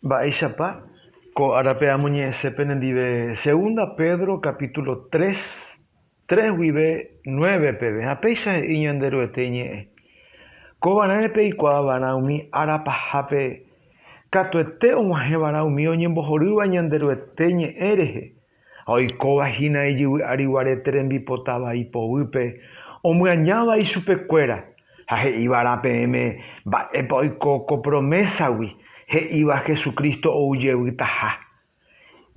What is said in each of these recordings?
Mba'éichapa ko árape amoñe'ẽse penendive Segunda Pedro capítulo tres, tres guive nueve peve, ha péicha he'i Ñanderuete iñe'ẽ, Kóva raẽ peikuaa va'erã umi ára pahápe katuete og̃uahẽ va'erã umi oñembohorýva Ñanderuete ñe'ẽ rehe, Ha oikóva hína ijyvy ári guarete rembipota vai poguýpe, omyañáva ichupekuéra, ha he'ívarã peẽme mba'épa oiko ko promésagui, he'íva Jesucristo ou jevýtaha.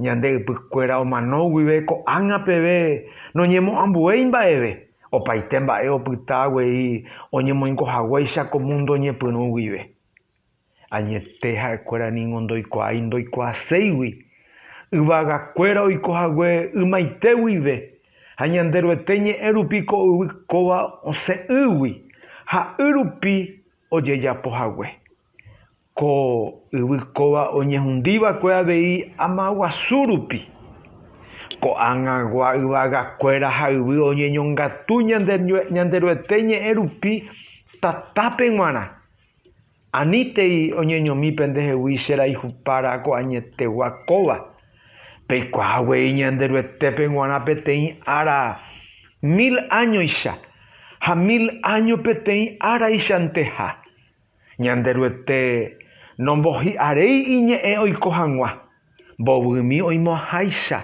Ñande ypykuéra omano guive ko'ág̃a peve noñemo'ãmbuéi mba'eve, opaite mba'e opyta guei oñemoingo haguéicha ko mundo ñepyrũ guive. Añete ha'ekuéra ningo ndoikuaái ndoikuaaséigui yvagakuéra oiko hague ymaite guive, ha Ñanderuete ñe'ẽ rupi ko yvy kóva osẽ'ỹgui ha y rupi ojejapo hague. Ko yvy kóva oñehundi va'ekue avei ama guasu rupi. Ko'ag̃agua yvagakuéra ha yvy oñeñongatu Ñanderuete ñe'ẽ rupi tatápe g̃uarã. Anítei oñeñomi pendehegui che raihupára ko añetegua kóva. Peikuaa guei Ñanderuetépe g̃uarã peteĩ ára mil áñoicha, ha mil áño peteĩ áraichanteiha. Ñanderuete nombohi'aréi iñe'ẽ oiko hag̃ua. Mbovymi oimo'ãháicha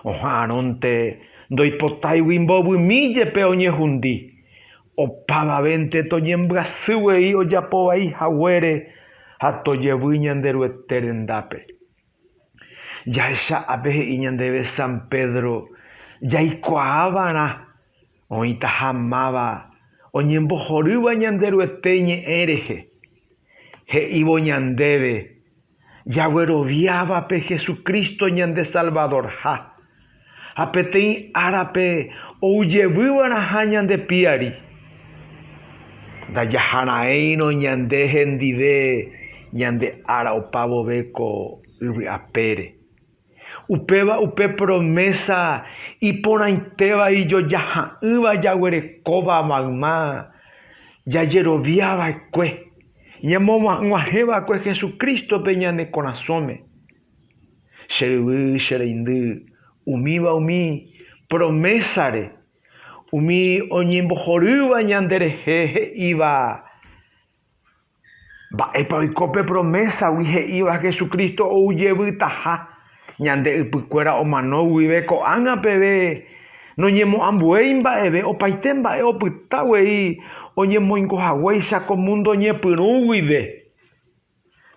oha'arõnte ndoipotáigui mbovymi jepe oñehundi. Opavavénte toñembyasy guei ojapo vai haguére ha tojevy ñande Ruete rendápe. Jahecha ápe he'i ñandéve San Pedro jaikuaa va'erã Oĩtaha máva oñembohorýva Ñanderuete ñe'ẽ rehe, he'ívo ñandéve jagueroviáva pe Jesucristo ñande Salvadorha, ha peteĩ árape ou jevyva'erãha ñande piári. Ndajaharaírõ ñande hendive ñande ára opa vove ko yvy apére. Upéva upe promésa iporãitéva ijojaha'ỹva jaguerekóva mayma jajerovia va'ekue ñamogua'ỹguahẽ va'ekue Jesucrístope ñane korasõme. Che ryvy, che reindy, umíva umi promésare umi oñembohorýva ñanderehe he'íva Mba'épa oiko pe promésa-gui he'íva Jesucristo ou jevytaha ñande ypykuéra omano guive ko'ág̃a peve noñemo'ambuéi mba'eve opaite mba'e opyta guei oñemoingo haguéicha ko múndo ñepyrũ guive?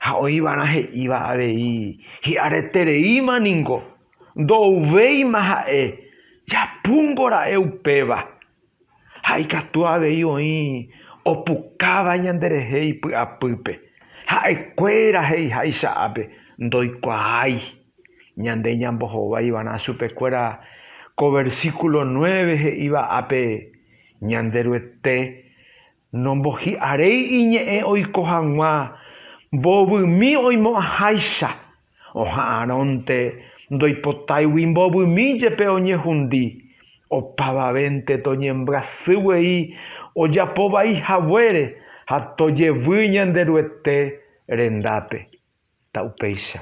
Ha oĩva'erã he'íva avei hi'aretereíma ningo ndo'uvéima ha'e japúngo ra'e upéva. Ha ikatu avei oĩ opukáva ñanderehe ipy'apýpe, ha'ekuéra he'iháicha ápe, ndoikuaái ñande ñambohováivarã chupekuéra ko versíkulo nueve he'íva ápe Ñanderuete Nombohi'aréi iñe'ẽ oiko hag̃ua mbovymi oimo'ãháicha, oha'arõnte ndoipotáigui mbovymi jepe oñehundi, opavavénte toñembyasy guei ojapo vai haguére ha tojevy Ñanderuete rendápe. Ta upéicha.